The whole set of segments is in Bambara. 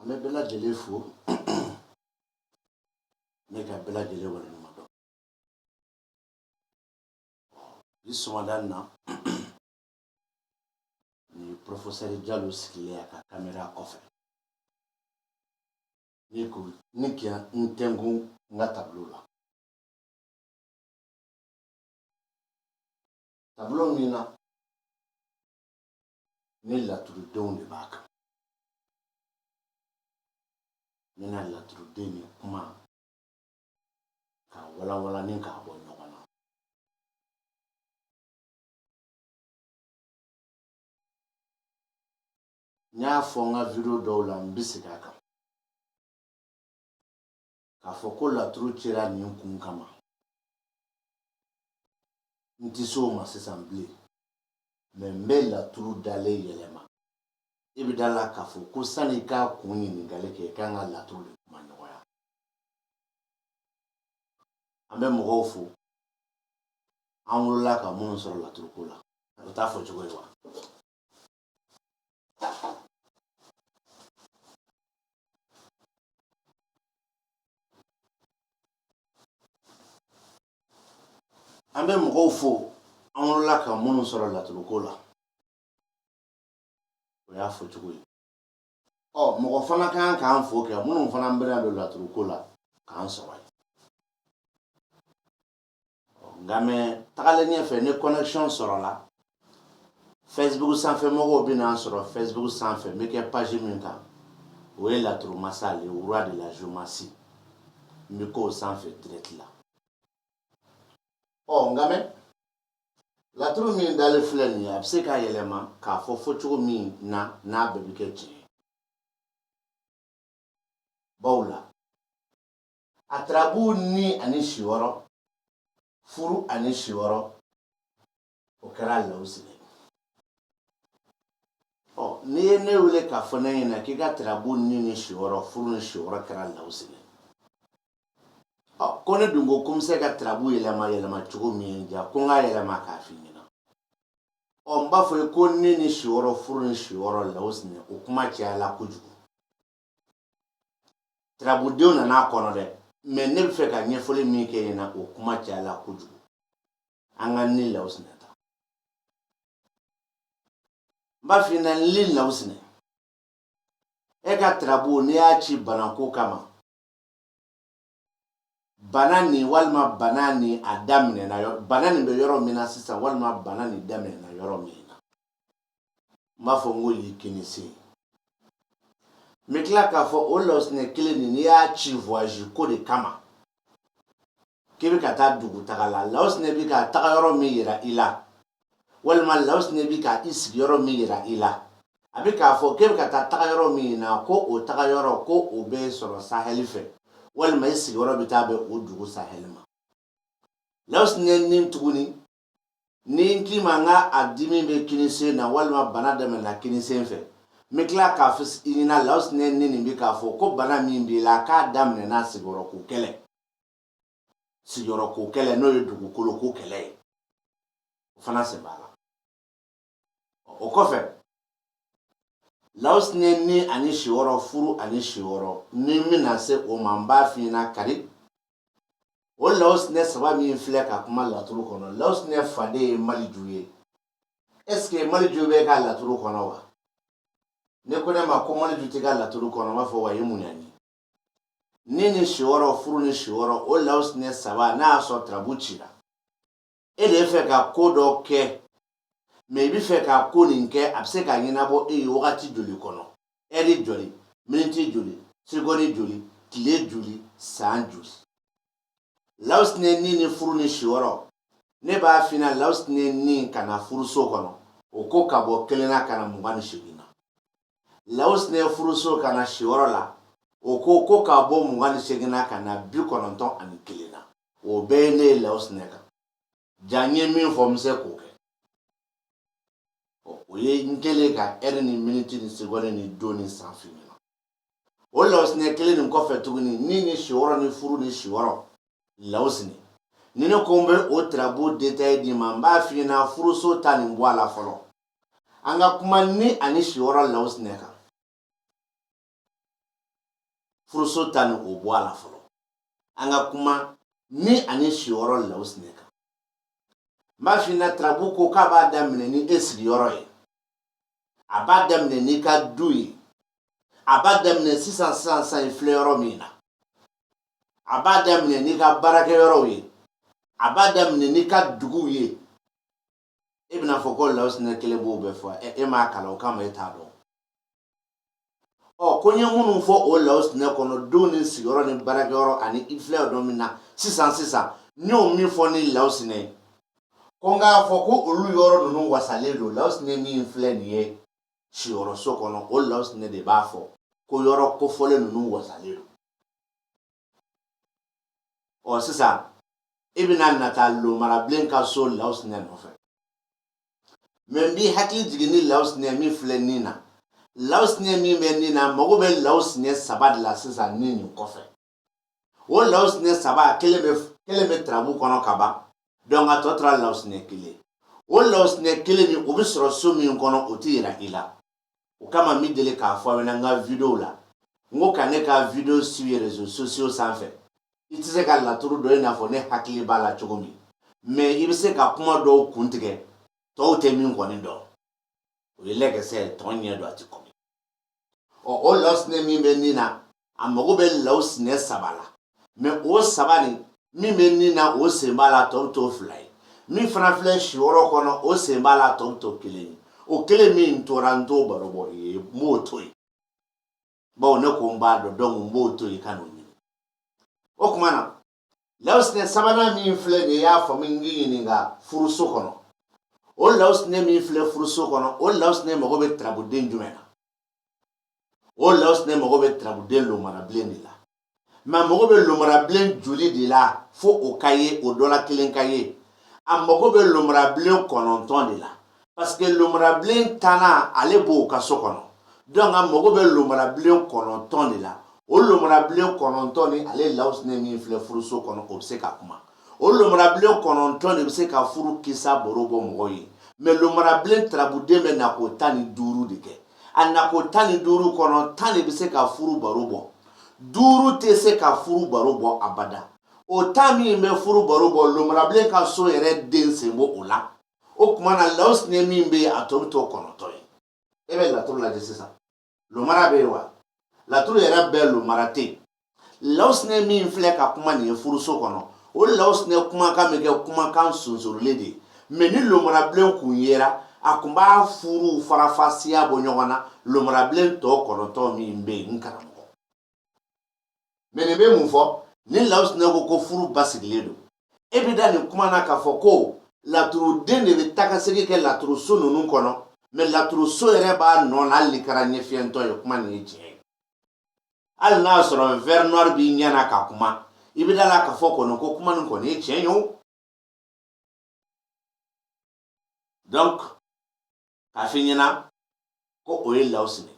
An bɛ bɛɛ lajɛlen fo ni ka bɛɛ lajɛlen waleɲumandɔn bi sɔgɔmada in na Ni porofesɛri Jalo sigilen a ka kamera kɔfɛ ni ko ni kɛ n tɛnku n ka tableau la tableau min na ni laturudenw de b'a kan n bɛna laturuden ni kuma k'a walanwalan ni k'a bɔ ɲɔgɔn na n y'a fɔ n ka video dɔw la n bɛ segin a kan k'a fɔ ko laturu cira nin kun kama n tɛ se o ma sisan bilen mɛ n bɛ laturu dalen yɛlɛma i bɛ da la k'a fɔ ko sani i k'a kun ɲininkali kɛ i kan ka laturu de kumaɲɔgɔnya an bɛ mɔgɔw fo an wolola ka minnu sɔrɔ laturuko la o t'a fɔ cogo ye wa an bɛ mɔgɔw fo an wolola ka minnu sɔrɔ laturuko la o y'a fɔ cogo ye ɔ mɔgɔ fana ka kan k'an fo kɛ minnu fana bɛna don laturuko la k'an sɔrɔ yen nka mɛ tagalen ɲɛfɛ ni connexion sɔrɔla Facebook sanfɛ mɔgɔw bɛn'an sɔrɔ Facebook sanfɛ n bɛ kɛ page min kan o ye laturu masa le roi de la géomancie n bɛ k'o sanfɛ direct la ɔ nka mɛ laturu min dalen filɛ nin ye a bɛ se k'a yɛlɛma k'a fɔ fɔcogo min na n'a bɛɛ bɛ kɛ tiɲɛ bawo la a tarabu ni ani si wɔɔrɔ furu ani si wɔɔrɔ o kɛra Lawusinɛ ɔ n'i ye ne wele k'a fɔ ne ɲɛna k'i ka tarabu ni ni si wɔɔrɔ furu ni si wɔɔrɔ kɛra Lawusinɛ ɔ ko ne dun ko ko n bɛ se ka tarabu yɛlɛma yɛlɛma cogo min ja ko n k'a yɛlɛma k'a f'i ɲɛna ɔ n b'a fɔ i ye ko ni ni si wɔɔrɔ furu ni si wɔɔrɔ Lawusinɛ o kuma cayala kojugu tirabudenw nana a kɔnɔ dɛ mɛ ne bɛ fɛ ka ɲɛfɔli min kɛ i ɲɛna o kuma cayala kojugu an ka ni lawusinɛ ta n b'a f'i ɲɛna ni lawusinɛ e ka tirabu n'i y'a ci banako kama bana nin walima bana nin a daminɛna yɔrɔ bana nin bɛ yɔrɔ min na sisan walima bana nin daminɛna yɔrɔ min na n b'a fɔ n ko y'i kini sen n bɛ tila k'a fɔ o lawusinɛ kelen nin n'i y'a ci voyage ko de kama k'i bɛ ka taa dugutaga la lawusinɛ bɛ ka tagayɔrɔ min yira i la walima lawusinɛ bɛ ka i sigiyɔrɔ min yira i la a bɛ k'a fɔ k'e bɛ ka taa tagayɔrɔ min na ko o tagayɔrɔ ko o bɛ sɔrɔ sahɛli fɛ walima i sigiyɔrɔ bɛ taa bɛn o dugu sahɛli ma lawusinɛ nin tuguni ni n k'i ma n k'a dimi bɛ kini sen na walima bana daminɛna kini sen fɛ n bɛ tila k'a fɔ i ɲɛna lawusinɛ ni nin bɛ k'a fɔ ko bana min b'i la k'a daminɛna sigiyɔrɔko kɛlɛ sigiyɔrɔko kɛlɛ n'o ye dugukoloko kɛlɛ ye o fana sen b'a la o kɔfɛ lawusinɛ ni ani siyɔrɔ furu ani siyɔrɔ ni n bɛna se o ma n b'a f'i ɲɛna kari o lawusinɛ saba min filɛ ka kuma laturu kɔnɔ lawusinɛ faden ye maliju ye ɛseke maliju b'e ka laturu kɔnɔ wa n'e ko ne ma ko maliju t'e ka laturu kɔnɔ n b'a fɔ wa ye mun yan ye ni ni siyɔrɔ furu ni siyɔrɔ o lawusinɛ saba n'a y'a sɔrɔ tirabu cira e de bɛ fɛ ka ko dɔ kɛ mɛ i bɛ fɛ ka ko nin kɛ a bɛ se ka ɲɛnabɔ e ye wagati joli kɔnɔ ɛri joli miniti joli segɔni joli tile joli san joli lawusinɛ ni ni furu ni siyɔrɔ ne b'a f'i ɲɛna lawusinɛ ni ka na furuso kɔnɔ o ko ka bɔ kelen na ka na mugan ni segin na lawusinɛ furuso ka na siyɔrɔ la o ko ko ka bɔ mugan ni segin na ka na bi kɔnɔntɔn ani kelen na o bɛɛ ye ne ye lawusinɛ kan ja n ye min fɔ n bɛ se k'o kɛ o ye n kɛlen ka ɛri ni miniti ni segɔni ni don ni san f'i ɲɛna o lawusinɛ kelen nin kɔfɛ tuguni ni ni siyɔrɔ ni furu ni siyɔrɔ lawusinɛ ni ne ko n bɛ o tirabu detayi d'i ma n b'a f'i ɲɛna furuso ta nin bɔ a la fɔlɔ an ka kuma ni ani siyɔrɔ lawusinɛ kan furuso ta nin o bɔ a la fɔlɔ an ka kuma ni ani siyɔrɔ lawusinɛ kan n b'a f'i ɲɛna tarabu ko k'a b'a daminɛ ni e sigiyɔrɔ ye a b'a daminɛ n'i ka du ye a b'a daminɛ sisan sisan sisan filɛ yɔrɔ min na a b'a daminɛ n'i ka baarakɛyɔrɔw ye a b'a daminɛ n'i ka duguw ye e bɛn'a fɔ ko lawusinɛ kelen b'o bɛɛ fɔ e m'a kalan o kama e t'a dɔn ɔ ko n ye minnu fɔ o lawusinɛ kɔnɔ denw ni sigiyɔrɔ ni baarakɛyɔrɔ ani i filɛ yɔrɔ min na sisan sisan n y'o min fɔ ni lawusinɛ ye ko n k'a fɔ ko olu yɔrɔ ninnu wasalen don lawusinɛ min filɛ nin ye siyɔrɔso kɔnɔ o lawusinɛ de b'a fɔ ko yɔrɔ kofɔlen ninnu wasalen don ɔ sisan i bɛna na taa lomarabilen ka so lawusinɛ nɔfɛ mais n b'i hakili jigin ni lawusinɛ min filɛ nin na lawusinɛ min bɛ nin na mago bɛ lawusinɛ saba de la sisan ni nin kɔfɛ o lawusinɛ saba kelen bɛ tarabu kɔnɔ ka ban donc a tɔ tora lawusinɛ kelen o lawusinɛ kelen nin o bɛ sɔrɔ so min kɔnɔ o tɛ yira i la o kama n bɛ deli k'a fɔ aw ɲɛna n ka videow la n ko ka ne ka video suivi réseaux sociaux sanfɛ i tɛ se ka laturu dɔn i n'a fɔ ne hakili b'a la cogo min mais i bɛ se ka kuma dɔw kun tigɛ tɔw tɛ min kɔni dɔn o ye lɛkɛsɛ ye tɔn ɲɛ dɔn a tɛ kɔmi ɔ o lawusinɛ min bɛ nin na a mago bɛ lawusinɛ saba la mais o saba nin min bɛ nin na o sen b'a la tɔ bɛ to fila ye min fana filɛ siyɔrɔ kɔnɔ o sen b'a la tɔ bɛ to kelen ye o kelen min tora n t'o baro bɔ i ye n b'o to yen bawo ne ko n b'a dɔn donc n b'o to yen ka n'o ɲini o tuma na lawusinɛ sabanan min filɛ nin ye y'a faamu n k'i ɲininka furuso kɔnɔ o lawusinɛ min filɛ furuso kɔnɔ o lawusinɛ mago bɛ tarabuden jumɛn na o lawusinɛ mago bɛ tarabuden lomarabilen de la mais a mago bɛ lomarabilen joli de la fo o ka ye o dɔ la kelen ka ye a mago bɛ lomarabilen kɔnɔntɔn de la parce que lomarabilen tannan ale b'o ka so kɔnɔ donc a mago bɛ lomarabilen kɔnɔntɔn de la o lomarabilen kɔnɔntɔn ni ale lawusinɛ min filɛ furuso kɔnɔ o bɛ se ka kuma o lomarabilen kɔnɔntɔn de bɛ se ka furu kisa baro bɔ mɔgɔw ye mais lomarabilen tarabuden bɛ nako tan ni duuru de kɛ a nako tan ni duuru kɔnɔ tan de bɛ se ka furu baro bɔ duuru tɛ se ka furu baro bɔ abada o tan min bɛ furu baro bɔ lomarabilen ka so yɛrɛ den sen bɔ o la o tuma na lawusinɛ min bɛ yen a tɔ bɛ to kɔnɔntɔn ye e bɛ laturu lajɛ sisan lomara bɛ yen wa laturu yɛrɛ bɛɛ lomara tɛ yen lawusinɛ min filɛ ka kuma nin ye furuso kɔnɔ o lawusinɛ kumakan bɛ kɛ kumakan sunsurulen de ye mais ni lomarabilen kun yera a kun b'a furuw farafasiya bɔ ɲɔgɔn na lomarabilen tɔ kɔnɔntɔn min bɛ yen n karamɔgɔ mais nin bɛ mun fɔ ni lawusinɛ ko ko furu basigilen don e bɛ da nin kuma na k'a fɔ ko laturuden de bɛ tagasegin kɛ laturuso ninnu kɔnɔ mais laturuso yɛrɛ b'a nɔ na hali n'i kɛra ɲɛfiyɛntɔ ye kuma nin ye tiɲɛ ye hali n'a sɔrɔ verres noirs b'i ɲɛ na ka kuma i bɛ da la k'a fɔ kɔni ko kuma nin kɔni ye tiɲɛ ye o donc k'a f'i ɲɛna ko o ye lawusinɛ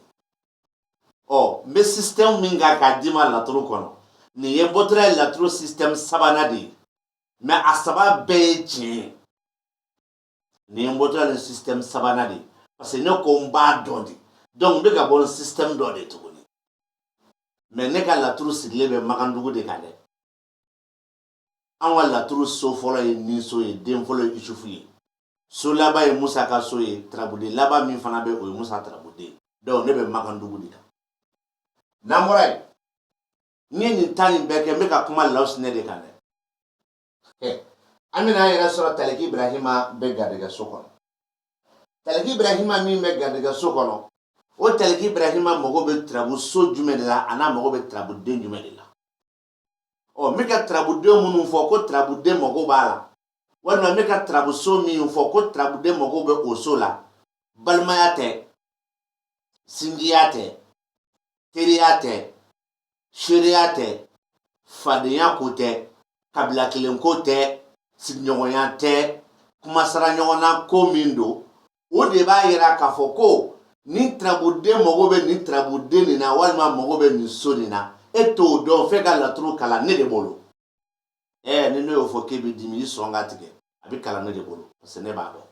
ɔ n bɛ système min kan k'a d'i ma laturu kɔnɔ nin ye bɔtɔla ye laturu système sabanan de ye mais a saba bɛɛ ye tiɲɛ ye nin ye bɔtɔla ni système sabanan de ye parce que ne ko n b'a dɔn de donc n bɛ ka bɔ ni système dɔ de tuguni mais ne ka laturu sigilen bɛ makandugu de kan dɛ an ka laturu so fɔlɔ ye ninso ye den fɔlɔ ye isufu ye so laban ye musa ka so ye tarabuden laban min fana bɛ o ye musa tarabuden donc ne bɛ makandugu de kan n'an bɔra yen n ye nin tan nin bɛɛ kɛ n bɛ ka kuma lawusinɛ de kan dɛ an bɛna an yɛrɛ sɔrɔ taliki ibrahima bɛ garijɛgɛ so kɔnɔ taliki ibrahima min bɛ garijɛgɛ so kɔnɔ o taliki ibrahima mago bɛ turabu so jumɛn de la an'a mago bɛ turabu den jumɛn de la ɔ n bɛ ka turabudenw minnu fɔ ko turabuden mago b'a la walima n bɛ ka turabuso min fɔ ko turabuden mago bɛ o so la balimaya tɛ sinjiya tɛ teriya tɛ seereya tɛ fadenya ko tɛ kabila kelen ko tɛ sigiɲɔgɔnya tɛ kumasara ɲɔgɔnna ko min don o de b'a yira k'a fɔ ko nin turabuden mago bɛ nin turabuden nin na walima mago bɛ nin so nin na e t'o dɔn f'e ka laturu kalan ne de bolo ɛɛ ni ne y'o fɔ k'e bɛ dimi i sɔn ka tigɛ a bɛ kalan ne de bolo parce que ne b'a dɔn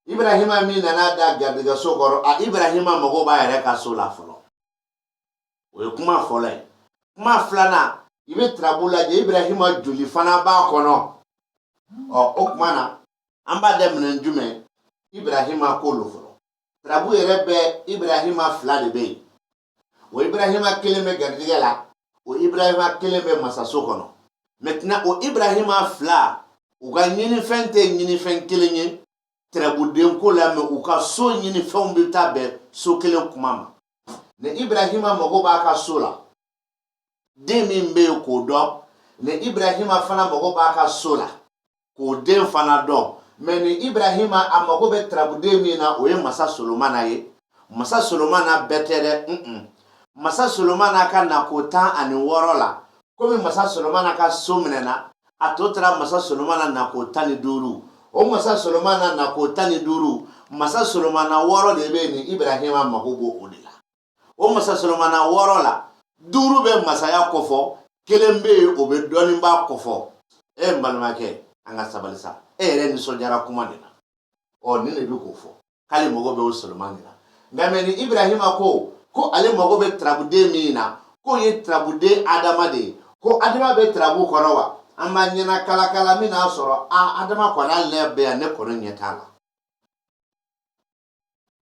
ibrahima min nana da garijɛgɛso kɔrɔ a ibrahima mago b'a yɛrɛ ka so la fɔlɔ o ye kuma fɔlɔ ye kuma filanan i bɛ turabu lajɛ ibrahima joli fana b'a kɔnɔ ɔ o kuma na an b'a daminɛ jumɛn ibrahima ko lo fɔlɔ tarabu yɛrɛ bɛ ibrahima fila de bɛ yen o ibrahima kelen bɛ garijɛgɛ la o ibrahima kelen bɛ masaso kɔnɔ maintenant o ibrahima fila u ka ɲinifɛn tɛ ɲinifɛn kelen ye tarabudenko la mais u ka so ɲinifɛnw bɛ taa bɛn so kelen kuma ma ni ibrahima mago b'a ka so la den min bɛ yen k'o dɔn ni ibrahima fana mago b'a ka so la k'o den fana dɔn mais ni ibrahima a mago bɛ tarabuden min na o ye masa solomana ye masa solomana bɛɛ tɛ dɛ mm -mm. masa solomana ka nako tan ani wɔɔrɔ la komi masa solomana ka so minɛna a tɔ tora masa solomana nako tan ni duuru o masa solomana nako tan ni duuru masa solomana wɔɔrɔ de bɛ yen ni ibrahima mago b'o o de la o masa solomana wɔɔrɔ la duuru bɛ masaya kɔfɔ kelen bɛ yen o bɛ dɔnniba kɔfɔ e n balimakɛ an ka sabali sa e yɛrɛ nisɔndiyara kuma de la ɔ nin de bɛ k'o fɔ k'ale mago bɛ o solomani la nka mɛ ni ibrahima ko ko ale mago bɛ turabuden min na k'o ye turabuden adama de ye ko adama bɛ turabu kɔnɔ wa an b'a ɲɛna kalakala min n'a sɔrɔ a adama kɔni ale bɛ yan ne kɔni ɲɛ t'a la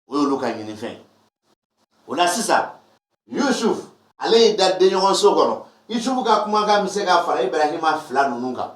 o y'olu ka ɲinifɛn o la sisan yusuf ale y'i da denɲɔgɔnso kɔnɔ yusufu ka kumakan bɛ se ka fara ibrahima fila ninnu kan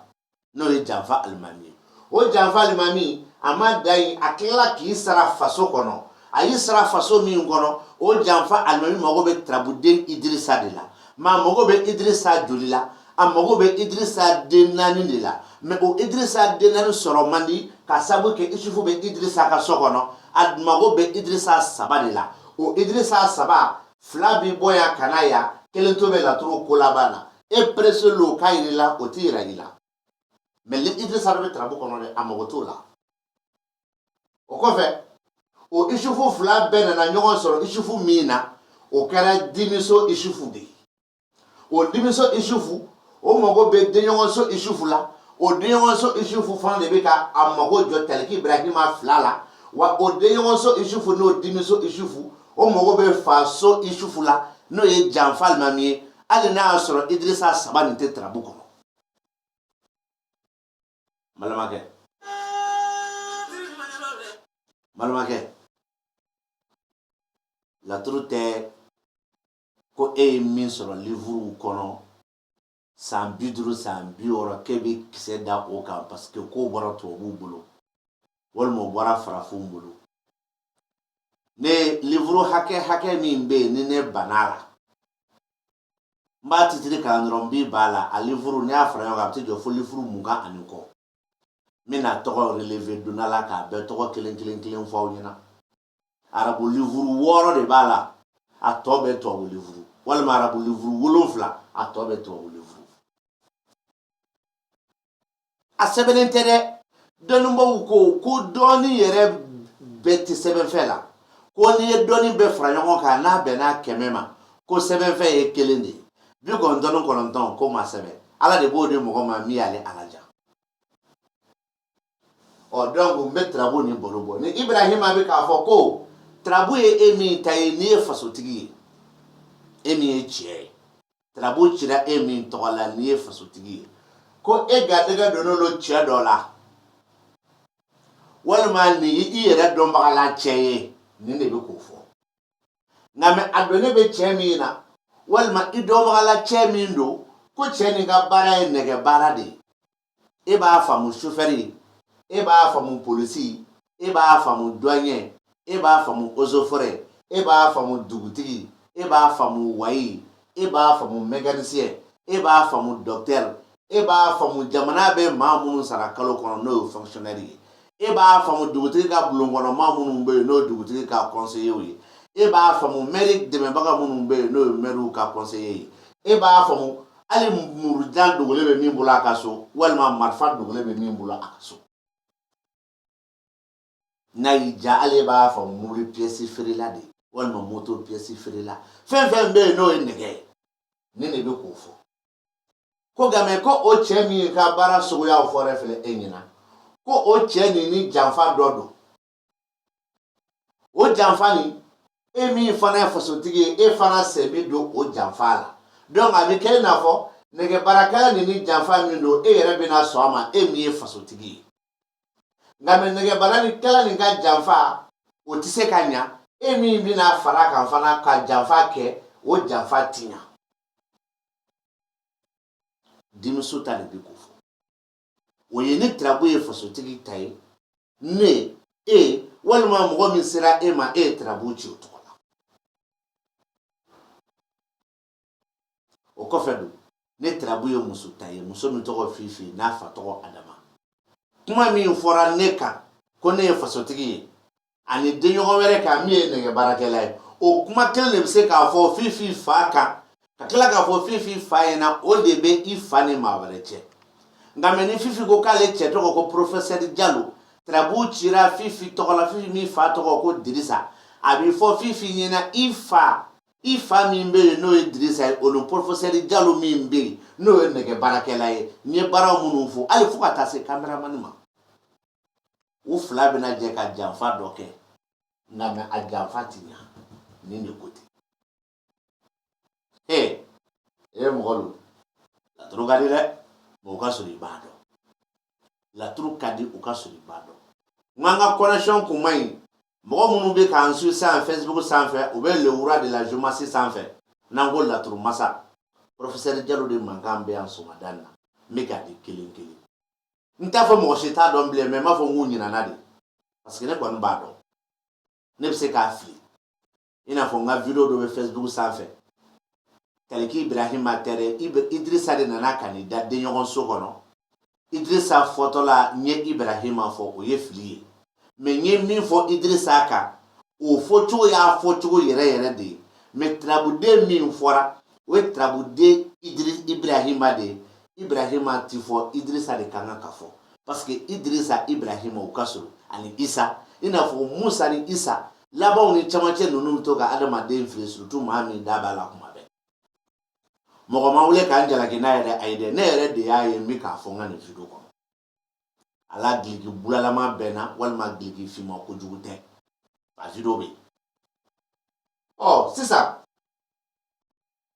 n'o ye janfa alimami ye o janfa alimami a ma dan yen a tilala k'i sara faso kɔnɔ a y'i sara faso min kɔnɔ o janfa alimami mago bɛ tarabuden idirisa de la mɛ a mago bɛ idirisa joli la a mago bɛ idirisa den naani de la mɛ o idirisa den naani sɔrɔ man di k'a sabu kɛ isufu bɛ idirisa ka so kɔnɔ a mago bɛ idirisa saba de la o idirisa saba fila bɛ bɔ yan ka na yan kelen tɔ bɛ laturu ko laban na e perese lo k'a yir'i la o tɛ yira i la mɛ ni idirisa bɛ tarabu kɔnɔ dɛ a mago t'o la o kɔfɛ o isufu fila bɛɛ nana ɲɔgɔn sɔrɔ isufu min na o kɛra dimiso isufu de ye o dimiso isufu o mago bɛ denɲɔgɔnso isufu la o denɲɔgɔnso isufu fana de bɛ ka a mago jɔ taliki ibrahima fila la wa o denɲɔgɔnso isufu n'o dimiso isufu o mago bɛ faso isufu la n'o ye janfa alimami ye hali n'a y'a sɔrɔ idirisa saba nin tɛ tarabu kɔnɔ balimakɛ balimakɛ laturu tɛ ko e ye min sɔrɔ livuru kɔnɔ san bi duuru san bi wɔɔrɔ k'e bɛ kisɛ da o kan parce que k'o bɔra tubabuw bolo walima o bɔra farafinw bolo ne livuru hakɛ hakɛ min bɛ yen ni ne bann'a la n b'a titiri kalan dɔrɔn n bi b'a la a livuru n'i y'a fara ɲɔgɔn kan a bɛ t'i jɔ fo livuru mugan ani kɔ n bɛna tɔgɔ releve donnala k'a bɛɛ tɔgɔ kelen kelen kelen fɔ aw ɲɛna arabu livuru wɔɔrɔ de b'a la a tɔ bɛɛ tubabu livuru walima arabu livuru wolonfila a tɔ bɛɛ tubabu livuru a sɛbɛnnen tɛ dɛ dɔnnibaaw ko ko dɔnni yɛrɛ bɛɛ tɛ sɛbɛnfɛn la ko n'i ye dɔnni bɛɛ fara ɲɔgɔn kan n'a bɛnna kɛmɛ ma ko sɛbɛnfɛn ye kelen de ye bi kɔnɔntɔn ni kɔnɔntɔn k'o ma sɛbɛn ala de b'o di mɔgɔ ma min y'ale ala diya ɔ dɔnku n bɛ tarabu nin baro bɔ ni ibrahima bɛ k'a fɔ ko tarabu ye e min ta ye n'i ye fasotigi ye e min ye cɛ ye tarabu cira e min tɔgɔ la n'i ye fasotigi ye ko e garijɛgɛ donnen don cɛ dɔ la walima nin ye i yɛrɛ dɔnbaga la cɛ ye nin de bɛ k'o fɔ nka mɛ a donnen bɛ cɛ min na walima i dɔnbaga la cɛ min don ko cɛ nin ka baara ye nɛgɛ baara de ye e b'a faamu sofɛri e b'a faamu polisi e b'a faamu duwanyɛ e b'a faamu ozofɔrɛ e b'a faamu dugutigi e b'a faamu wayi e b'a faamu mɛkanisiyɛn e b'a faamu dɔktɛri e b'a faamu jamana bɛ maa minnu sara kalo kɔnɔ n'o ye fɔnkisiyɔnɛri ye e b'a faamu dugutigi ka bulonkɔnɔmaa minnu bɛ yen n'o ye dugutigi ka kɔnseyew ye e b'a faamu mɛri dɛmɛbaga minnu bɛ yen n'o ye mɛriw ka kɔnseye ye e b'a faamu hali murujan dogolen bɛ min bolo a ka so walima marifa dogolen bɛ min bolo a ka so n'a y'i diya hali e b'a faamu mobili piyɛsi feerela de walima moto piyɛsi feerela fɛn fɛn bɛ yen n'o ye nɛgɛ ye nin de bɛ k'o fɔ ko nka mɛ ko o cɛ min ka baara suguyaw fɔlen filɛ e ɲɛna ko o cɛ nin ni janfa dɔ don o janfa nin e min fana ye fasotigi ye e fana sen bi don o janfa la donc a bɛ kɛ i n'a fɔ nɛgɛbaarakɛla nin ni janfa min don e yɛrɛ bɛna sɔn a ma e min ye fasotigi ye nka mɛ nɛgɛbaarakɛla nin ka janfa o tɛ se ka ɲa e min bɛna fara kan fana ka janfa kɛ o janfa ti ɲa denmuso ta de bɛ k'o fɔ o ye ni tirabu ye fasotigi ta ye ne e walima mɔgɔ min sera e ma e ye tirabu ci o tɔgɔ la o kɔfɛ don ni tirabu ye muso ta ye muso min tɔgɔ fifi n'a fa tɔgɔ adama kuma min fɔra ne kan ko ne ye fasotigi ye ani denɲɔgɔn wɛrɛ kan min ye nɛgɛ baarakɛla ye o kuma kelen de bɛ se k'a fɔ fifi fa kan ka tila k'a fɔ fifi fa ɲɛna o de bɛ i fa ni maa wɛrɛ cɛ nka mɛ ni fifi ko k'ale cɛ tɔgɔ ko porofɛsɛri jalo tarabu cira fifi tɔgɔ la fifi min fa tɔgɔ ko dirisa a bɛ fɔ fifi ɲɛna i fa i fa min bɛ yen n'o ye dirisa ye o ni porofɛsɛri jalo min bɛ yen n'o ye nɛgɛ baarakɛla ye n ye baara minnu fɔ hali fo ka taa se kameramani ma u fila bɛna jɛ ka janfa dɔ kɛ nka mɛ a janfa ti ɲa nin de ko ten ee e ye mɔgɔ don laturu ka di dɛ mɛ o k'a sɔrɔ i b'a dɔn laturu ka di o k'a sɔrɔ i b'a dɔn nk'an ka connection kun man ɲi mɔgɔ minnu bɛ k'an su san facebook sanfɛ u bɛ lewura de la jomasi sanfɛ n'an ko laturu masa professeur jalo de mankan bɛ yan sɔgɔmada in na n bɛ k'a di kelen kelen n t'a fɔ mɔgɔ si t'a dɔn bilen mɛ n b'a fɔ n k'u ɲinana de parce que ne kɔni b'a dɔn ne bɛ se k'a fili i n'a fɔ n ka video dɔ bɛ facebook sanfɛ taliki ibrahima tɛrɛ idirisa de nana ka n'i da denɲɔgɔn so kɔnɔ idirisa fɔtɔla n ye ibrahima fɔ o ye fili ye mɛ n ye min fɔ idirisa kan o fɔcogo y'a fɔcogo yɛrɛ yɛrɛ de ye mɛ turabuden min fɔra o ye turabuden idiri ibrahima de ye ibrahima ti fɔ idirisa de kan ka ka fɔ parce que idirisa ibrahima u ka surun ani isa i n'a fɔ musa ni isa labanw ni camancɛ ninnu bɛ to ka adamaden fili surtout maa min da b'a la kuma bɛɛ mɔgɔ ma wele ka n jalaki n'a yɛrɛ ayi dɛ ne yɛrɛ de y'a ye n bɛ k'a fɔ n ka nin video kɔnɔ ala dulɔki bulalama bɛ n na walima dulɔki finma kojugu tɛ a video bɛ yen sisan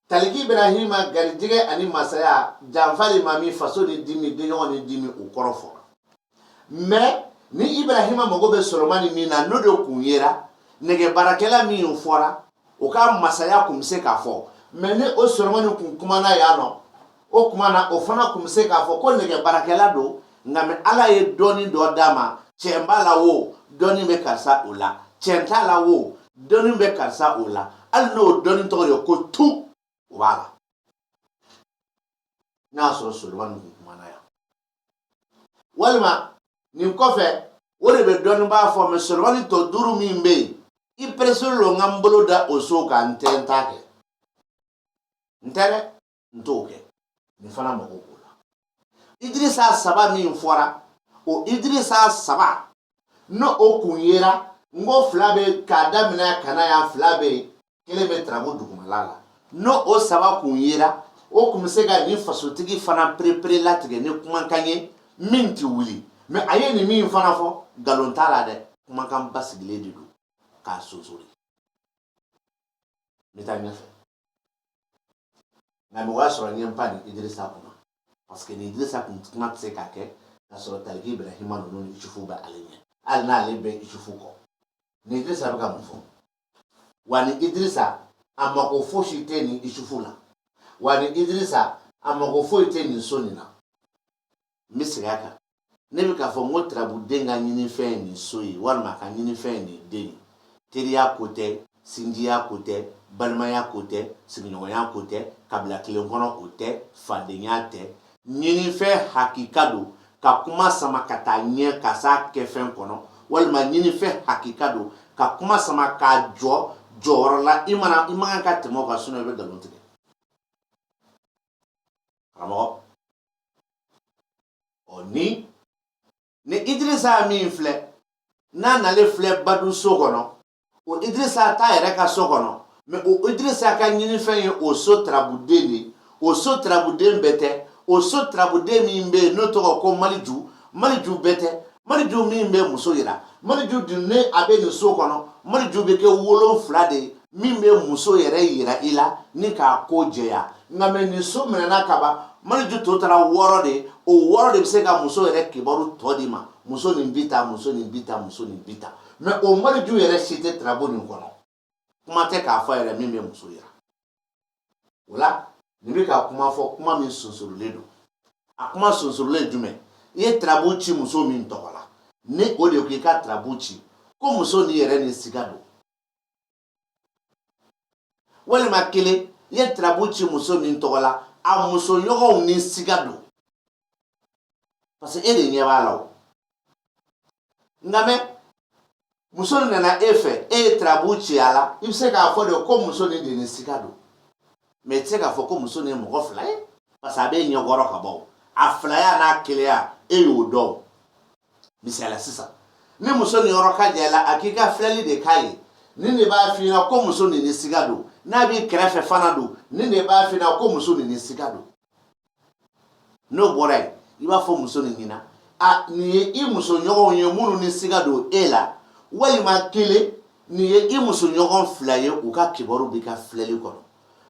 taliki ibrahima garijɛgɛ ani masaya janfa de ma min faso ni dimi denɲɔgɔn ni dimi o kɔrɔ fɔra mɛ ni ibrahima mago bɛ solomani min na n'o de kun yera nɛgɛbaarakɛla min fɔra o ka masaya kun bɛ se k'a fɔ mɛ ni o solomani kun kumana yan nɔ o tuma na o fana kun bɛ se k'a fɔ ko nɛgɛ baarakɛla don nka mɛ ala ye dɔɔni dɔ d'a ma cɛn b'a la wo dɔɔni bɛ karisa o la cɛn t'a la wo dɔɔni bɛ karisa o la hali n'o dɔɔni tɔgɔ ye ko tu o b'a la n'a y'a sɔrɔ solomani kun kumana yan walima nin kɔfɛ o de bɛ dɔɔni b'a fɔ mɛ solomani tɔ duuru min bɛ yen i pereselen don n ka n bolo da o so kan n tɛ n ta kɛ n tɛ dɛ n t'o kɛ nin fana mago b'o la idirisa saba min fɔra o idirisa saba n'o o kun yera n ko fila bɛ k'a daminɛ ka na yan fila bɛ yen kelen bɛ turabu dugumala la n'o o saba kun yera o kun bɛ se ka nin fasotigi fana perepere latigɛ ni kumakan ye min tɛ wuli mɛ a ye nin min fana fɔ nkalon t'a la dɛ kumakan basigilen de don k'a sonsori n bɛ taa ɲɛfɛ nka mɔgɔ y'a sɔrɔ n ye n pan ni idirisa kunna parce que ni idirisa kun kuma tɛ se ka kɛ ka sɔrɔ tariki ibrahima ninnu ni isufu bɛ ale ɲɛ hali n'ale bɛ isufu kɔ ni idirisa bɛ ka mun fɔ wa ni idirisa a mako fosi tɛ ni isufu la wa ni idirisa a mako foyi tɛ nin so nin na n bɛ segin a kan ne bɛ k'a fɔ n ko turabuden ka ɲinifɛn ye nin so ye walima a ka ɲinifɛn ye nin den ye teriya ko tɛ sinjiya ko tɛ balimaya ko tɛ sigiɲɔgɔnya ko tɛ kabila kelen kɔnɔ o tɛ fadenya tɛ ɲinifɛn hakika don ka kuma sama ka taa ɲɛ ka s'a kɛfɛn kɔnɔ walima ɲinifɛn hakika don ka kuma sama k'a jɔ jɔyɔrɔ la i mana i man kan ka tɛmɛ o kan sinon i bɛ nkalon tigɛ karamɔgɔ ɔ ni ni idirisa min filɛ n'a nalen filɛ badu so kɔnɔ o idirisa t'a yɛrɛ ka so kɔnɔ mɛ o idirisa ka ɲinifɛn ye o so tarabuden de o so tarabuden bɛɛ tɛ o so tarabuden min bɛ yen n'o tɔgɔ ko maliju maliju bɛɛ tɛ maliju min bɛ muso yira maliju dun ni a bɛ nin so kɔnɔ maliju bɛ kɛ wolonfila de ye min bɛ muso yɛrɛ yira i la ni k'a ko jɛya nka mɛ nin so minɛna kaba maliju tɔ tora wɔɔrɔ de o wɔɔrɔ de bɛ se ka muso yɛrɛ kibaru tɔ d'i ma muso nin bi tan muso nin bi tan muso nin bi tan mɛ o maliju yɛrɛ si tɛ tarabu nin kɔnɔ kuma tɛ k'a fɔ yɛrɛ min bɛ muso yira o la nin bɛ ka kuma fɔ kuma min sunsurulen don a kuma sunsurulen jumɛn i ye tarabu ci muso min tɔgɔ la ni o de ko i ka tarabu ci ko muso ni yɛrɛ ni siga don walima kelen i ye tarabu ci muso min tɔgɔ la a musoɲɔgɔnw ni siga don parce que e de ɲɛ b'a la o nka mɛ muso nana e fɛ e ye tarabu ci a la i bɛ se k'a fɔ de ko muso ni de ni siga don mɛ i tɛ se k'a fɔ ko muso nin ye mɔgɔ fila ye parce que a b'i ɲɛkɔrɔ kaban a filaya n'a kelenya e y'o dɔn misaliya sisan ni muso nin yɔrɔ ka jan i la a k'i ka filɛli de k'a ye nin de b'a f'i ɲɛna ko muso nin ni siga don n'a b'i kɛrɛfɛ fana don nin de b'a f'i ɲɛna ko muso nin ni siga don n'o bɔra yen i b'a fɔ muso nin ɲɛna a nin ye i musoɲɔgɔnw ye minnu ni siga don e la walima kelen nin ye i musoɲɔgɔn fila ye u ka kibaru b'i ka filɛli kɔnɔ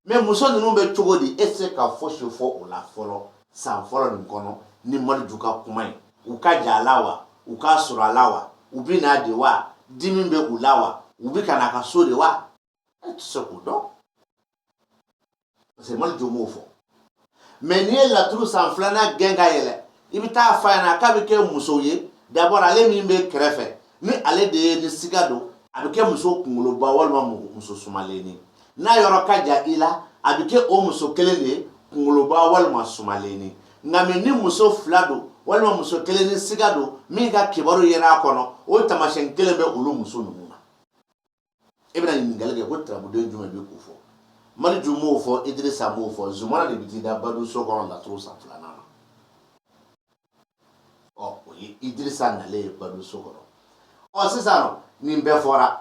mɛ muso ninnu bɛ cogo di e tɛ se ka fosi fɔ o la fɔlɔ san fɔlɔ nin kɔnɔ ni maliju ka kuma ye u ka jan a la wa u ka surun a la wa u bɛ n'a de wa dimi bɛ u la wa u bɛ ka n'a ka so de wa e tɛ se k'o dɔn parce que maliju m'o fɔ mɛ n'i ye laturu san filanan gɛn ka yɛlɛ i bɛ taa f'a ɲɛna k'a bɛ kɛ muso ye d'abord ale min b'i kɛrɛfɛ ni ale de ye ni siga don a bɛ kɛ muso kunkoloba walima muso sumalenni n'a yɔrɔ ka jan i la a bɛ kɛ o muso kelen de ye kunkoloba walima sumalenni nka mɛ ni muso fila don walima muso kelen ni siga don min ka kibaru yera a kɔnɔ o tamasiyɛn kelen bɛ olu muso ninnu na e bɛna ɲininkali kɛ ko tarabuden jumɛn bɛ k'o fɔ maliju m'o fɔ idirisa m'o fɔ zumana de bɛ t'i da badu so kɔnɔ laturu san filanan na ɔ o ye idirisa nalen ye badu so kɔnɔ ɔ sisan nin bɛɛ fɔra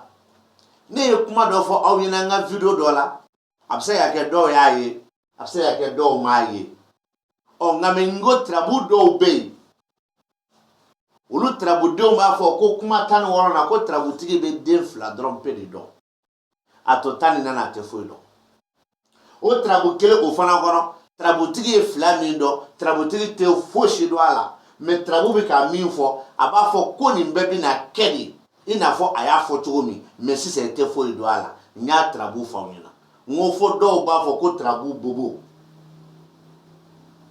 ne ye kuma dɔ fɔ aw ɲɛna n ka video dɔ la a bɛ se ka kɛ dɔw y'a ye a bɛ se ka kɛ dɔw m'a ye ɔ nka mɛ n ko tirabu dɔw bɛ yen olu tirabudenw b'a fɔ ko kuma tan ni wɔɔrɔ na ko tirabutigi bɛ den fila dɔrɔn pe de dɔn a tɔ tan ni naani a tɛ foyi dɔn o tirabu kelen o fana kɔnɔ tirabutigi ye fila min dɔn tirabutigi tɛ fosi dɔn a la mɛ tirabu bɛ ka min fɔ a b'a fɔ ko nin bɛɛ bɛna kɛ de i n'a fɔ a y'a fɔ cogo min mɛ sisan i tɛ foyi dɔn a la n y'a tirabu f'aw ɲɛna n ko fo dɔw b'a fɔ ko tirabu bobo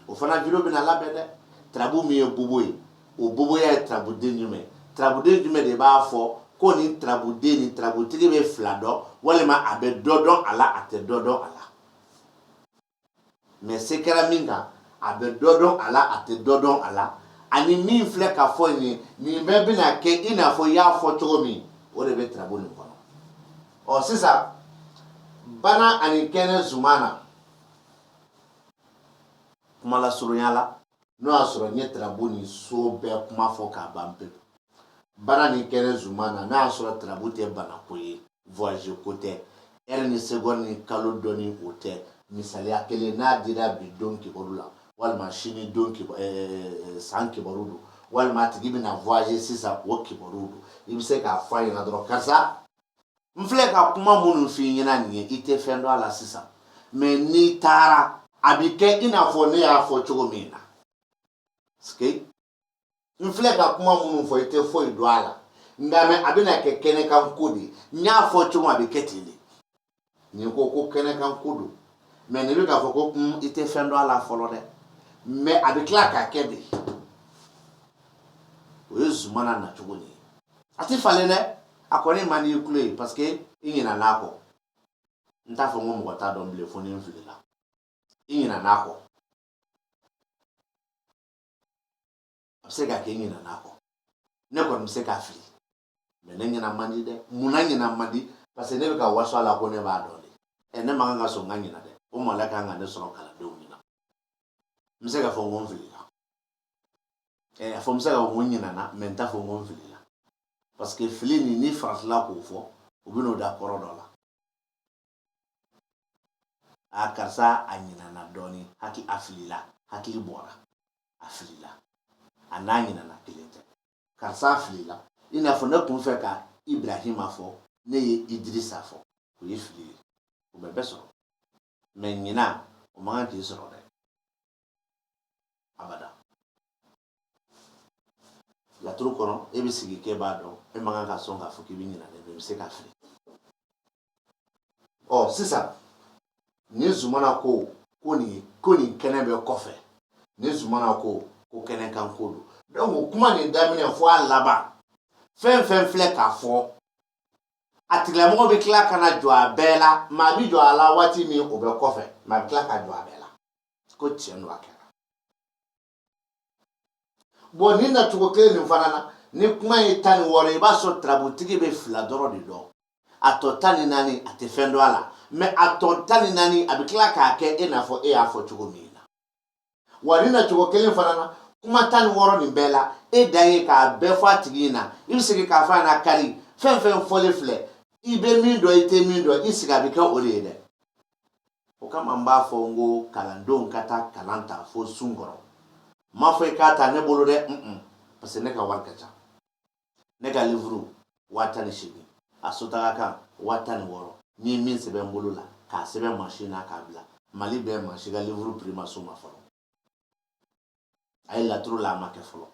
o fana video bɛna labɛn dɛ tirabu min ye bobo ye o boboya ye tirabuden jumɛn tirabuden jumɛn de b'a fɔ ko nin tirabuden ni tirabutigi bɛ fila dɔn walima a bɛ dɔ dɔn a la a tɛ dɔ dɔn a la mɛ se kɛra min kan a bɛ dɔ dɔn a la a tɛ dɔ dɔn a la ani min filɛ ka f'i ye nin bɛɛ bɛna kɛ i n'a fɔ y'a fɔ cogo min o de bɛ tirabu nin kɔnɔ ɔ sisan bana ani kɛnɛ zumana kumalasurunya la n'o y'a sɔrɔ n ye tirabu nin so bɛɛ kuma fɔ k'a ban pe bana ni kɛnɛ zumana n'a y'a sɔrɔ tirabu tɛ banako ye voyage ko tɛ heure ni seconde ni kalo dɔnni o tɛ misaliya kelen n'a dira bi don kibaru la walima sini don san kibaru don walima a tigi bɛna voyage sisan o kibaru don i bɛ se k'a fɔ a ɲɛna dɔrɔn karisa n filɛ ka kuma minnu f'i ɲɛna nin ye i tɛ fɛn dɔn a la sisan mɛ n'i taara a bɛ kɛ i n'a fɔ ne y'a fɔ cogo min na parce que n filɛ ka kuma minnu fɔ i tɛ foyi dɔn a la nka mɛ a bɛna kɛ kɛnɛkan ko de ye n y'a fɔ cogo min a bɛ kɛ ten de nin ko ko kɛnɛkan ko don mɛ nin bɛ k'a fɔ ko i tɛ fɛn dɔn a la fɔlɔ dɛ mɛ a bɛ tila ka kɛ de o ye zumana nacogo de ye a tɛ falen dɛ a kɔni man di i tulo ye parce que i ɲinɛn'a kɔ n t'a fɔ n ko mɔgɔ t'a dɔn bilen fo ni n filila i ɲinɛn'a kɔ a bɛ se ka kɛ i ɲinɛn'a kɔ ne kɔni bɛ se ka fili mɛ ne ɲinɛ man di dɛ mun na ɲinɛ man di parce que ne bɛ ka waso a la ko ne b'a dɔn de ɛ ne man kan ka sɔn n ka ɲinɛ dɛ o maloya ka kan ka ne sɔrɔ kalandenw ɲɛna n bɛ se k'a fɔ n ko n filila Ɛɛ a fɔ n bɛ se k'a fɔ ko n ɲinɛna mais n t'a fɔ ko n filila parce que fili nin n'i faratila k'o fɔ u bɛ n'o da kɔrɔ dɔ la a karisa a ɲinɛna dɔɔnin a filila hakili bɔra a filila a n'a ɲinɛna kelen tɛ karisa a filila i n'a fɔ ne tun fɛ ka Ibrahima fɔ ne ye Idirisa fɔ o ye fili ye o bɛ bɛɛ sɔrɔ mɛ ɲina o man kan k'i sɔrɔ dɛ abada laturu kɔnɔ e bɛ sigi k'e b'a dɔn e man kan ka sɔn k'a fɔ k'i bɛ ɲina dɛ mɛ i bɛ se k'a fili ɔ sisan ni zumana ko ko nin ko nin kɛnɛ bɛ kɔfɛ ni zumana ko ko kɛnɛ kan ko don donc kuma nin daminɛ fo a laban fɛn fɛn filɛ k'a fɔ a tigilamɔgɔ bɛ tila ka na jɔ a bɛɛ la maa bɛ jɔ a la waati min o bɛ kɔfɛ maa bɛ tila ka jɔ a bɛɛ la ko tiɲɛ don a kɛra bon nin nacogo kelen nin fana na ni kuma ye tan ni wɔɔrɔ i b'a sɔrɔ tarabutigi bɛ fila dɔrɔn de dɔn a tɔ tan ni naani a tɛ fɛn dɔn a la mɛ a tɔ tan ni naani a bɛ tila k'a kɛ e n'a fɔ e y'a fɔ cogo min wa nin nacogo kelen fana na kuma tan ni wɔɔrɔ nin bɛɛ la e dan ye k'a bɛɛ fɔ a tigi ɲɛna i bɛ segin k'a fɔ a na kari fɛn fɛn fɔlen filɛ i bɛ min dɔn i tɛ min dɔn i sigi a bɛ kɛ o de ye dɛ o kama n b'a fɔ n ko kalandenw ka taa kalan ta fo sun kɔrɔ n m'a fɔ i k'a ta ne bolo dɛ parce que ne ka wari ka ca ne ka livuru waa tan ni seegin a sotaga kan waa tan ni wɔɔrɔ ne ye min sɛbɛn n bolo la k'a sɛbɛn mansin na k'a bila mali bɛɛ mansin ka livuru piri ma s'o ma fɔlɔ a ye laturu la a ma kɛ fɔlɔ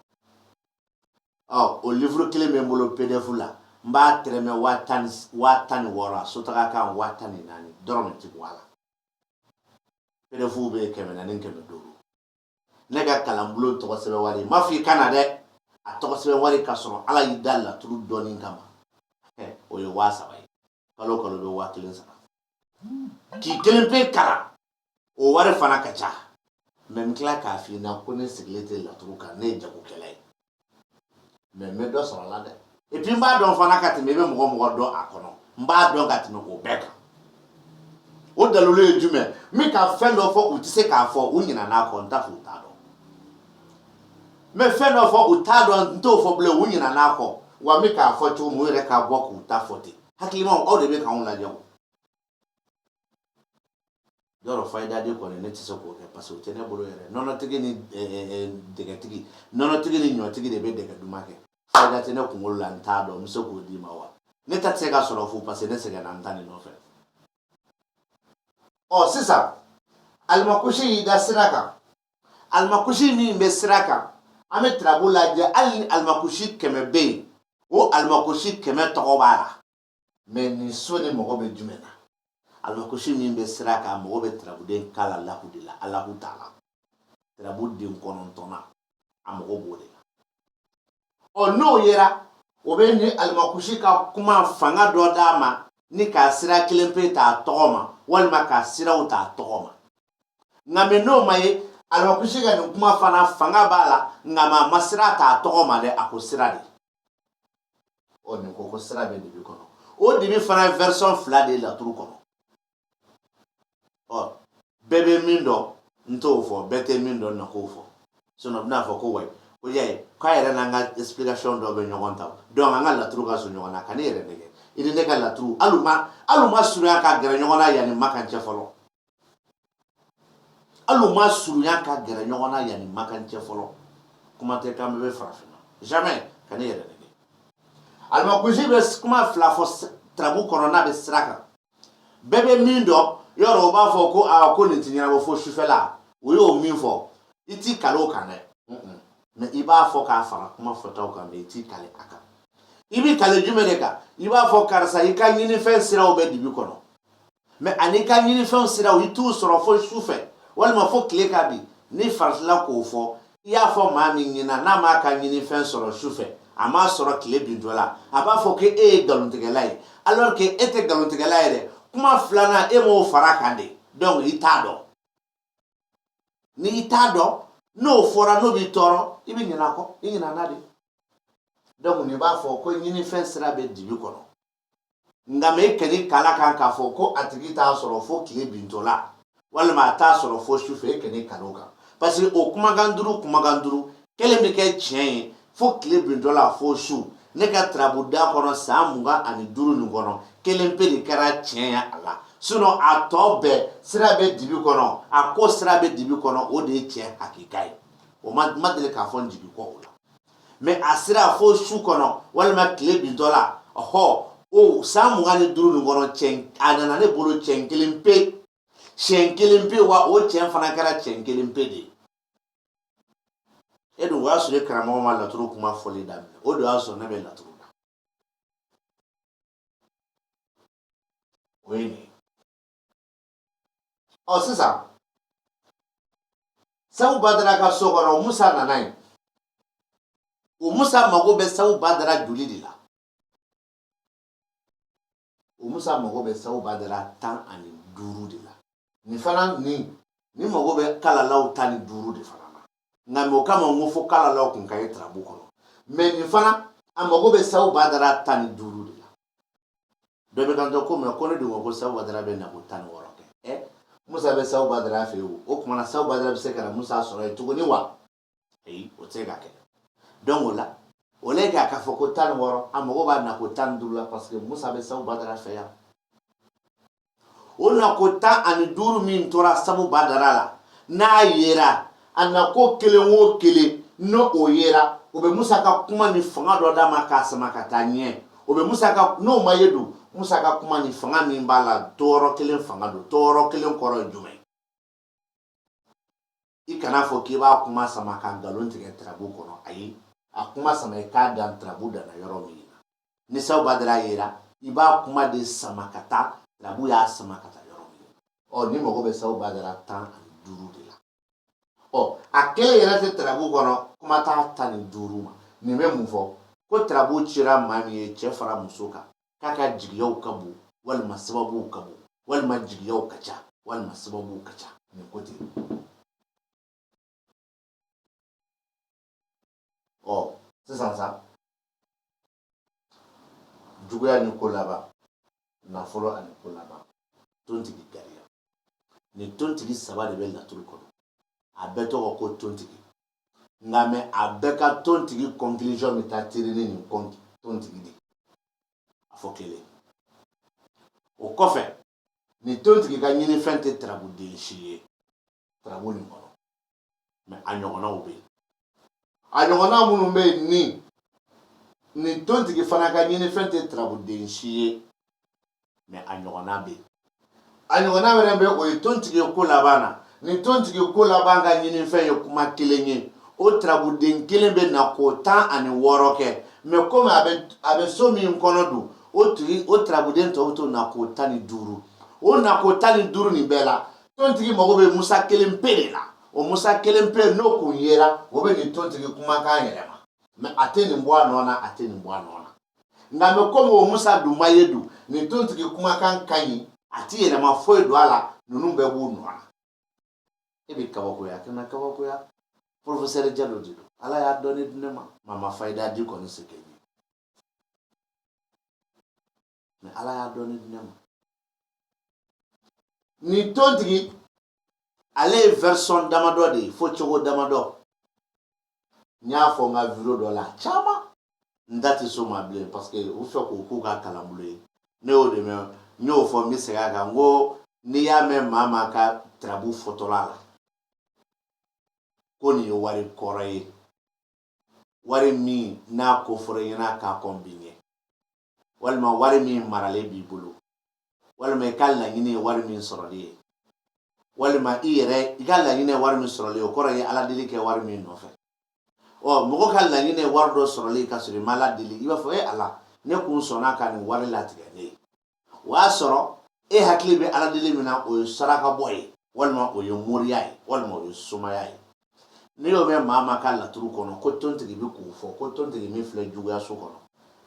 ɔ o livuru kelen bɛ n bolo pdf la n b'a tɛrɛmɛ waa tan ni wɔɔrɔ a sotaga kan waa tan ni naani dɔrɔmɛ ti bɔ a la pdf bɛ kɛmɛ naani kɛmɛ duuru ne ka kalanbulon tɔgɔ sɛbɛn wari n m'a fɔ i ka na dɛ a tɔgɔ sɛbɛn wari ka sɔrɔ ala y'i da laturu dɔnni kama o ye waa saba ye kalo o kalo bɛ waa kelen sara k'i kelen pe kalan o wari fana ka ca mɛ n tila k'a f'i ɲɛna ko ne sigilen tɛ laturu kan ne ye jagokɛla ye mɛ n bɛ dɔ sɔrɔ a la dɛ epi n b'a dɔn fana ka tɛmɛ i bɛ mɔgɔ o mɔgɔ dɔn a kɔnɔ n b'a dɔn ka tɛmɛ o bɛɛ kan o dalilu ye jumɛn n bɛ ka fɛn dɔ fɔ u tɛ se k'a fɔ u ɲinɛna n'a kɔ n t'a fɔ u t'a dɔn mɛ fɛn dɔ fɔ u t'a dɔn n t'o fɔ bilen u ɲinɛna n'a kɔ wa n bɛ k'a fɔ cogo min u yɛrɛ ka bɔ k'u ta fɔ ten hakilimaw aw de bɛ k'anw lajɛ o Yɔrɔ fayida di kɔni ne tɛ se k'o kɛ parce que o tɛ ne bolo yɛrɛ nɔnɔtigi ni dɛgɛtigi nɔnɔtigi ni ɲɔtigi de bɛ dɛgɛ duman kɛ fayida tɛ ne kunkolo la n t'a dɔn n bɛ se k'o d'i ma wa ne ta tɛ se ka sɔrɔ fu parce que ne sɛgɛnna n ta nin nɔfɛ ɔ sisan alimakusi y'i da sira kan alimakusi min bɛ sira kan an bɛ tarabu lajɛ hali ni alimakusi kɛmɛ bɛ yen o alimakusi kɛmɛ tɔgɔ b'a la mɛ nin so nin mago bɛ jumɛn na alimakusi min bɛ sira kan mago bɛ tarabuden kalalahu de la alahu tala tarabuden kɔnɔntɔnnan a mago b'o de la ɔ n'o yera o bɛ ni alimakusi ka kuma fanga dɔ d'a ma ni k'a sira kelen pe t'a tɔgɔ ma walima k'a siraw t'a tɔgɔ ma nka mɛ n'o ma ye alimakusi ka nin kuma fana fanga b'a la nka ma ma sira t'a tɔgɔ ma dɛ a ko sira de ɔ nin ko ko sira bɛ dibi kɔnɔ o dibi fana ye version fila de ye laturu kɔnɔ ɔ bɛɛ bɛ min dɔn n t'o fɔ bɛɛ tɛ min dɔn na k'o fɔ sinɔn a bɛna fɔ ko wayi ko y'a ye k'a yɛrɛ n'an ka explication dɔ bɛ ɲɔgɔn ta donc an ka laturu ka surun ɲɔgɔn na kan'i yɛrɛ nɛgɛn i ni ne ka laturu hali u ma hali u ma surunya ka gɛrɛ ɲɔgɔn na yan ni makan cɛ fɔlɔ Hali u ma surunya ka gɛrɛ ɲɔgɔn na yan ni makan cɛ fɔlɔ kuma tɛ k'an bɛɛ bɛ farafinna jamais kan'i yɛrɛ nɛgɛn alimakusi bɛ kuma fila fɔ tarabu kɔnɔ n'a bɛ sira kan bɛɛ bɛ min dɔn yɔrɔ o b'a fɔ ko aa ko nin tɛ ɲɛnabɔ fo sufɛla o y'o min fɔ i t'i kale o kan dɛ mɛ i b'a fɔ k'a fara kuma fɔtaw kan mɛ i t'i kale a kan i b'i kale jumɛn de kan i b'a fɔ karisa i ka ɲinifɛn siraw bɛ dibi kɔnɔ mɛ ani i ka ɲinifɛnw siraw i t'u sɔrɔ fo su fɛ walima fo tile ka bin n'i faratila k'o fɔ i y'a fɔ maa min ɲɛna n'a m'a ka ɲinifɛn sɔrɔ su fɛ a m'a sɔrɔ tile bintɔ la a b'a fɔ ko e ye nkalontigɛla ye alors que e tɛ nkalontigɛla ye dɛ kuma filanan e m'o fara kan de donc i t'a dɔn ni i t'a dɔn n'o fɔra n'o b'i tɔɔrɔ i bɛ ɲinɛ a kɔ i ɲinɛna de donc n'i b'a fɔ ko ɲinifɛn sira bɛ dibi kɔnɔ nka mɛ e kan'i kale a kan k'a fɔ ko a tigi t'a sɔrɔ fo tile bintɔ la walima a t'a sɔrɔ fo sufɛ e kan'i kale o kan parce que o kumakan duuru kumakan duuru kelen bɛ kɛ tiɲɛ ye fo tile bintɔ la fo su ne ka tarabuda kɔnɔ san mugan ani duuru nin kɔnɔ kelen pe de kɛra tiɲɛ ye a la sinɔn a tɔ bɛɛ sira bɛ dibi kɔnɔ a ko sira bɛ dibi kɔnɔ o de ye tiɲɛ hakika ye o ma deli ka fɔ n jigi kɔ o la mɛ a sira fo su kɔnɔ walima tile bintɔ la ɔhɔ o san mugan ni duuru nin kɔnɔ cɛn a nana ne bolo cɛn kelen pe cɛn kelen pe wa o cɛn fana kɛra cɛn kelen pe de e dun o y'a sɔrɔ e karamɔgɔ ma laturu kuma fɔli daminɛ o de y'a sɔrɔ ne bɛ laturu la o ye nin ye ɔ sisan sabu badara ka so kɔnɔ musa nana yen o musa mago bɛ sabu badara joli de la o musa mago bɛ sabu badara tan ani duuru de la nin fana nin nin mago bɛ kalalaw tan ni duuru de fana na nka mɛ o kama n ko fo kalalaw kun ka ye tarabu kɔnɔ mɛ nin fana a mago bɛ sabu badara tan ni duuru de la dɔ bɛ kanto ko mɛ ko ne dun ko sabu badara bɛ na ko tan ni wɔɔrɔ kɛ musa bɛ sabu badara fɛ yen o tuma na sabu badara bɛ se ka na musa sɔrɔ yen tuguni wa ayi o tɛ se ka kɛ donc o la o le k'a ka fɔ ko tan ni wɔɔrɔ a mago b'a na ko tan ni duuru la parce que musa bɛ sabu badara fɛ yan o nako tan ani duuru min tora sabu badara la n'a yera a nako kelen o kelen n'o o yera o bɛ musa ka kuma ni fanga dɔ d'a ma k'a sama ka taa ɲɛ o bɛ musa ka n'o ma ye dun musa ka kuma ni fanga min b'a la tɔɔrɔ kelen fanga don tɔɔrɔ kelen kɔrɔ ye jumɛn i kan'a fɔ k'i b'a kuma sama ka nkalon tigɛ tarabu kɔnɔ ayi a kuma sama i k'a dan tarabu danna yɔrɔ min na ni sabu badara yera i b'a kuma de sama ka taa tarabu y'a sama ka taa yɔrɔ min ɔ nin mago bɛ sabu badara tan ani duuru de la ɔ a kelen yɛrɛ tɛ tarabu kɔnɔ kuma t'a tan ni duuru ma nin bɛ mun fɔ ko tarabu cira maa min ye cɛ fara muso kan k'a ka jigiyaw ka bon walima sababuw ka bon walima jigiyaw ka ca walima sababuw ka ca nin ko ten ɔ sisan sa juguya ni ko laban nafolo ani ko laban tontigi gariya nin tontigi saba de bɛ laturu kɔnɔ a bɛɛ tɔgɔ ko tontigi nka mɛ a bɛɛ ka tontigi conclusion bɛ taa teri ni nin tontigi de a fɔ kelen o kɔfɛ nin tontigi ka ɲinifɛn tɛ tarabuden si ye tarabu nin kɔnɔ mɛ a ɲɔgɔnnaw bɛ yen a ɲɔgɔnna minnu bɛ yen ni nin tontigi fana ka ɲinifɛn tɛ tarabuden si ye mɛ a ɲɔgɔnna bɛ yen a ɲɔgɔnna wɛrɛ bɛ o ye tontigi ye ko laban na nin tontigi ko laban ka ɲinifɛn ye kuma kelen ye o tarabuden kelen bɛ na ko tan ani wɔɔrɔ kɛ mɛ kɔmi a bɛ so min kɔnɔ dun o tarabuden tɔw bɛ to na ko tan ni duuru o na ko tan ni duuru nin bɛɛ la tontigi mago bɛ musa kelen pe de la o musa kelen pe n'o kun yera o bɛ nin tontigi kumakan yɛlɛma mɛ a tɛ nin bɔ a nɔ na a tɛ nin bɔ a nɔ nka mɛ komi o musa dun ma ye dun nin tontigi kumakan ka ɲi a tɛ yɛlɛma foyi don a la ninnu bɛɛ b'u nɔ na e bɛ kabakoya kana kabakoya porofesɛri jalo de don ala y'a dɔnni di ne ma maa ma fayida di kɔni se kɛ ye mɛ ala y'a dɔnni di ne ma nin tontigi ale ye version damadɔ de ye fɔcogo damadɔ n y'a fɔ n ka video dɔ la caman n da tɛ s'o ma bilen parce que u fɛ k'o k'u ka kalanbolo ye ne y'o de mɛn n y'o fɔ n bɛ segin a kan n ko n'i y'a mɛn maa maa ka tarabu fɔtɔla la ko nin ye wari kɔrɔ ye wari min n'a ko fɔra i ɲɛna ka kɔn bi ɲɛ walima wari min maralen b'i bolo walima i ka laɲini ye wari min sɔrɔli ye walima i yɛrɛ i ka laɲini ye wari min sɔrɔli ye o kɔrɔ ye ala deli kɛ wari min nɔfɛ ɔ mɔgɔ ka laɲini ye wari dɔ sɔrɔli ye ka sɔrɔ i ma ala deli i b'a fɔ e ala ne kun sɔnna ka nin wari latigɛ ne ye o y'a sɔrɔ e hakili bɛ ala deli min na o ye saraka bɔ ye walima o ye moriya ye walima o ye somaya ye n'i y'o mɛn maa maa ka laturu kɔnɔ ko tontigi bɛ k'o fɔ ko tontigi min filɛ juguyaso kɔnɔ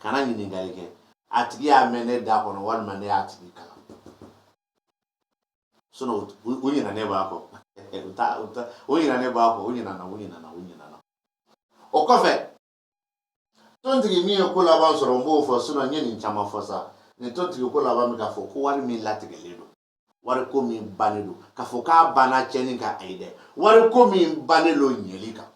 kana ɲininkali kɛ a tigi y'a mɛn ne da kɔnɔ walima ne y'a tigi kalan sinɔn u ɲinɛ ne b'a kɔ u ta u ta u ɲinɛ ne b'a kɔ u ɲinɛna u ɲinɛna u ɲinɛna o kɔfɛ tontigi min ye ko laban sɔrɔ n b'o fɔ sinɔn n ye nin caman fɔ sa nin tontigi ko laban bɛ k'a fɔ ko wari min latigɛlen don wari ko min bannen don k'a fɔ k'a banna cɛnni kan ayi dɛ wari ko min bannen don ɲɛli kan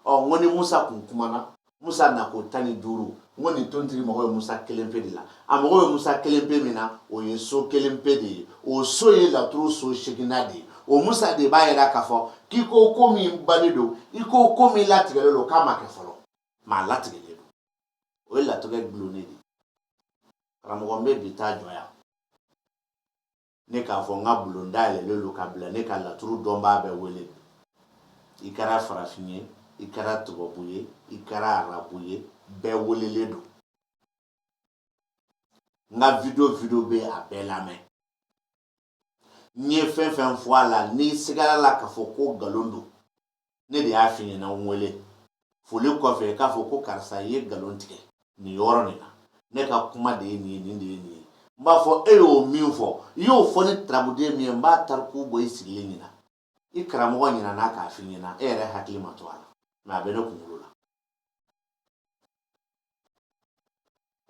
ɔ n ko ni musa kun kumana musa na ko tan ni duuru n ko nin tontigi mago bɛ musa kelen pe de la a mago bɛ musa kelen pe min na o ye so kelen pe de ye o so ye laturu so seginnan de ye o musa de b'a yira k'a fɔ k'i ko ko min bannen don i ko ko min latigɛlen don k'a ma kɛ fɔlɔ mɛ a latigɛlen don o ye latigɛ dulonnen de ye karamɔgɔ n bɛ bi ta jɔ yan ne k'a fɔ n ka bulon dayɛlɛlen don ka bila ne ka laturu dɔnbaa bɛɛ wele i kɛra farafin ye i kɛra tubabu ye i kɛra arabu ye bɛɛ welelen don n ka video video bɛ a bɛɛ lamɛn n ye fɛn fɛn fɔ a la n'i sigara a la k'a fɔ ko nkalon don ne de y'a f'i ɲɛna n wele foli kɔfɛ k'a fɔ ko karisa i ye nkalon tigɛ nin yɔrɔ nin na ne ka kuma de ye nin ye nin de ye nin ye n b'a fɔ e y'o min fɔ i y'o fɔ ni tarabuden min ye n b'a tariku bɔ i sigilen ɲɛna i karamɔgɔ ɲinana k'a f'i ɲɛna e yɛrɛ hakili ma to a la mɛ a bɛ ne kunkolo la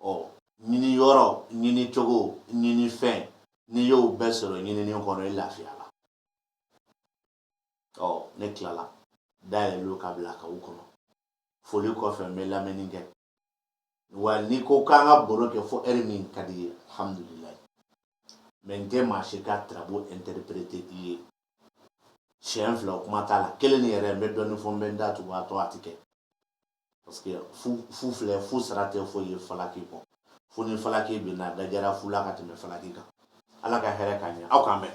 ɔ ɲini yɔrɔ ɲini cogo ɲini fɛn n'i y'o bɛɛ sɔrɔ ɲinini kɔnɔ i lafiya ɔ ne tilala dayɛlɛlen don ka bila k'aw kɔnɔ foli kɔfɛ n bɛ lamɛnni kɛ wa n'i ko k'an ka baro kɛ fo ɛri min ka di i ye alhamdulilayi mɛ n tɛ maa si ka tarabu interpréter i ye siɲɛ fila o kuma t'a la kelen nin yɛrɛ n bɛ dɔɔnin fɔ n bɛ n da tugu a tɔ a tɛ kɛ parce que fu filɛ fu sara tɛ foyi ye falaki kɔ fu ni falaki bɛ na dajara fu la ka tɛmɛ falaki kan ala ka hɛrɛ k'an ɲɛ aw k'an bɛn